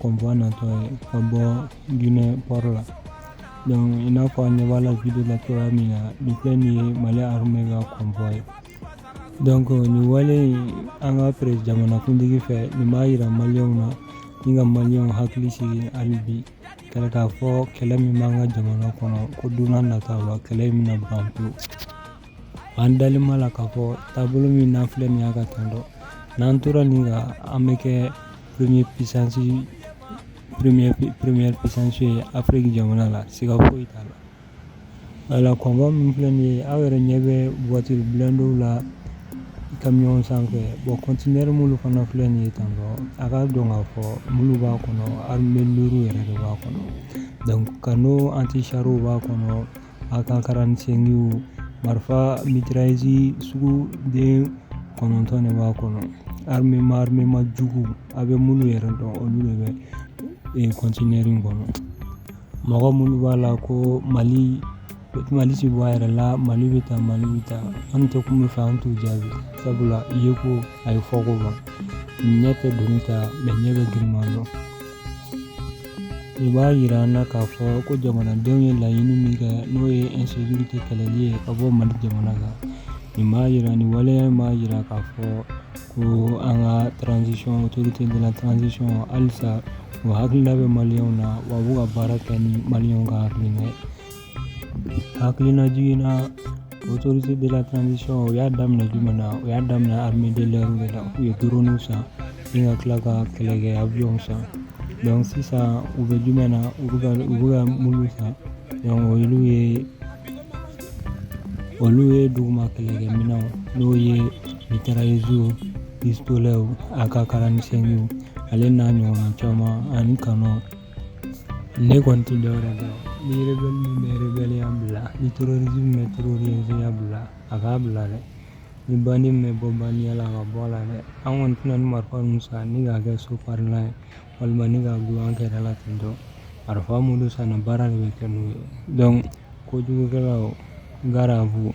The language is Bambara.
convoi natɔ ye ka bɔ ginɛ pɔri la donc i n'a fɔ an ɲɛ b'a la video la cogoya min na nin filɛ nin ye mali arme ka convoi ye donc nin wale in an ka pere jamanakuntigi fɛ nin b'a yira maliyɛnw na ni ka maliyɛnw hakili sigi hali bi k'a fɔ kɛlɛ min b'an ka jamana kɔnɔ ko don nataw la kɛlɛ in bɛna ban pewu An dalen b'a la k'a fɔ taabolo min n'an filɛ nin y'a kan tan donc n'an tora nin kan an bɛ kɛ première puissance ye afiriki jamana la siga foyi t'a la voilà convoi min filɛ nin ye aw yɛrɛ ɲɛ bɛ voiture blindéw la camion sanfɛ bon conteneur minnu fana filɛ nin ye tan a ka dɔn k'a fɔ minnu b'a kɔnɔ arme lourde yɛrɛ de b'a kɔnɔ canon anti-charw b'a kɔnɔ AK quarante-cinqw marifa mitrailleuse sugu den kɔnɔntɔn de b'a kɔnɔ armement armement jugu a bɛ minnu yɛrɛ dɔn olu de bɛ conteneur in kɔnɔ mɔgɔ minnu b'a la ko mali ti bɔ a yɛrɛ la mali bɛ tan mali bɛ tan an tɛ kun min fɛ an t'u jaabi sabula i ye ko a ye fɔko ban ɲɛ tɛ doni ta mais ɲɛ bɛ girinman dɔn Nin b'a yira an na k'a fɔ ko jamanadenw ye laɲini min kɛ n'o ye insécurité kɛlɛli ye ka bɔ mali jamana kan nin b'a yira nin waleya b'a yira k'a fɔ ko an ka transition autorité de la transition halisa u hakilina bɛ maliyɛnw na wa u bɛ ka baara kɛ ni maliyɛnw ka hakilina jigin na autorité de la transition u y'a daminɛ jumɛn na u y'a daminɛ armée de l'air de la u ye drone san ni ka tila ka kɛlɛkɛ avion san donc sisan u bɛ jumɛn na u bɛ ka u bɛ ka minnu san donc olu ye olu ye duguma kɛlɛkɛminɛnw n'o ye mitrailleusew pistoletw AK quarante-cinqw ale n'a ɲɔgɔnna caman ani canon Ne kɔni tɛ dɔwɛrɛ dɔn ni rebelle min bɛ rebelleya bila ni terroriste min bɛ terroristeya bila a k'a bila dɛ ni bandi min bɛ bɔ bandiya la a ka bɔ a la dɛ an kɔni tɛna nin marifa ninnu san ni k'a kɛ so furalan ye walima ni k'a dulon an kɛrɛ la ten tɔ marifa minnu sanna baara de bɛ kɛ n'u ye donc kojugukɛlaw gare à vous